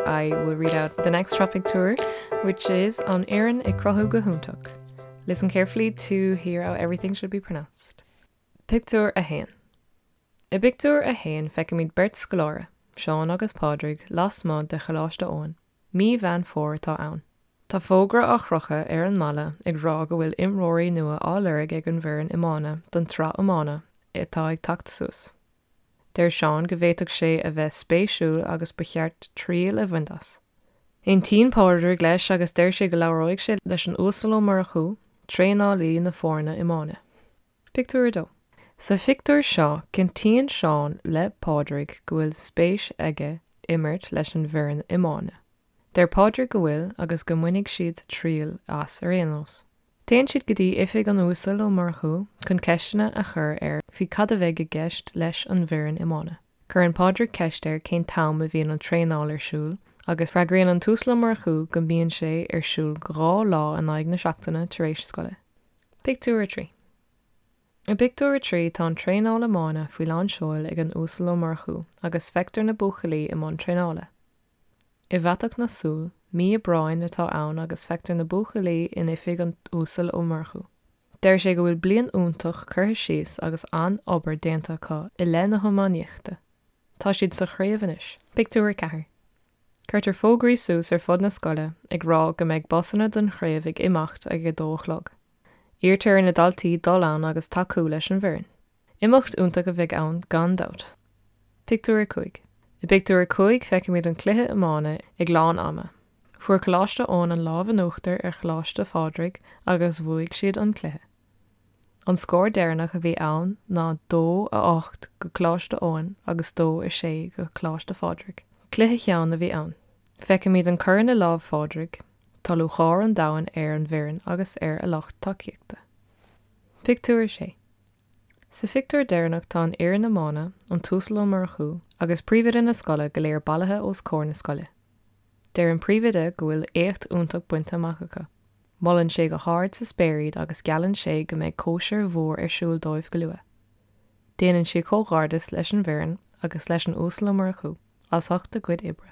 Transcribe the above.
I will read out the next Sraith Pictiúr which is An Fhoireann ag Cruthú go hiontach Listen carefully to hear how everything should be pronounced Pictiúr 1 I bpictiúr 1 feicimid beirt scoláire, Seán agus Pádraig, lasmuigh de Choláiste Eoin. Mí Mheán Fómhair atá ann. Tá fógra á chrochadh ar an mballa ag rá go bhfuil imreoirí nua á lorg ag an bhfoireann iomána don tsraith iomána atá ag teacht suas. Deir Seán go bhféadfadh sé a bheith spéisiúil agus ba cheart triail a bhaint as. Aontaíonn Pádraig leis agus deir sé go labhróidh sé leis an Uasal Ó Murchú, traenálaí na foirne iomána. Pictiúr 2 Sa phictiúr seo, cinntíonn Seán le Pádraig go bhfuil spéis aige imirt leis an bhfoireann iomána. Deir Pádraig go bhfuil agus go mbainfidh siad triail as ar aon nós. Téann siad go dtí oifig an Uasail Ó Murchú chun ceisteanna a chur air faoi cad a bheidh i gceist leis an bhfoireann iomána. Cuireann Pádraig ceist air cén t-am a bhíonn an traenáil ar siúl agus freagraíonn an tUasal Ó Murchú go mbíonn sé ar siúl dhá lá in aghaidh na seachtaine tar éis scoile. Pictiúr 3 I bpictiúr a trí tá an traenáil iomána faoi lán seoil ag an Uasal Ó Murchú agus feictear na buachaillí i mbun traenála. I bhfaiteadh na súl, mí Aibreáin atá ann agus feictear na buachaillí in oifig an Uasail Ó Murchú. Deir sé go bhfuil bliain iontach curtha síos agus an-obair déanta acu i leith na hiománaíochta. Tá siad sa chraobh anois. Pictiúr 4 Cuirtear fógraí suas ar fud na scoile ag rá go mbeidh busanna don chraobh ag imeacht ag a dó a chlog. Iarrtar ar na daltaí dul ann agus tacú leis an bhfoireann. Imeacht iontach a bheidh ann gan dabht. Pictiúr 5 I bpictiúr a cúig feicimid an cluiche iomána ag lán ama. Fuair Coláiste Eoin an lámh in uachtar ar Choláiste Phádraig agus bhuaigh siad an cluiche. An scór deireanach a bhí ann ná dó a ocht go Coláiste Eoin agus dó a sé go Coláiste Phádraig. Cluiche theann a bhí ann. Feicimid an corn i lámh Phádraig. Tá lúcháir an domhain ar an bhfoireann agus ar a lucht tacaíochta. Pictiúr 6. Sa phictiúr deireanach tá an fhoireann iomána, an tUasal Ó Murchú agus príomhoide na scoile go léir bailithe os comhair na scoile. Deir an príomhoide go bhfuil éacht iontach bainte amach acu. Molann sé go hard sa spéir iad agus geallann sé go mbeidh cóisir mhór ar siúl dóibh go luath. Déanann sé comhghairdeas leis an bhfoireann agus leis an Uasal Ó Murchú as ucht a gcuid oibre.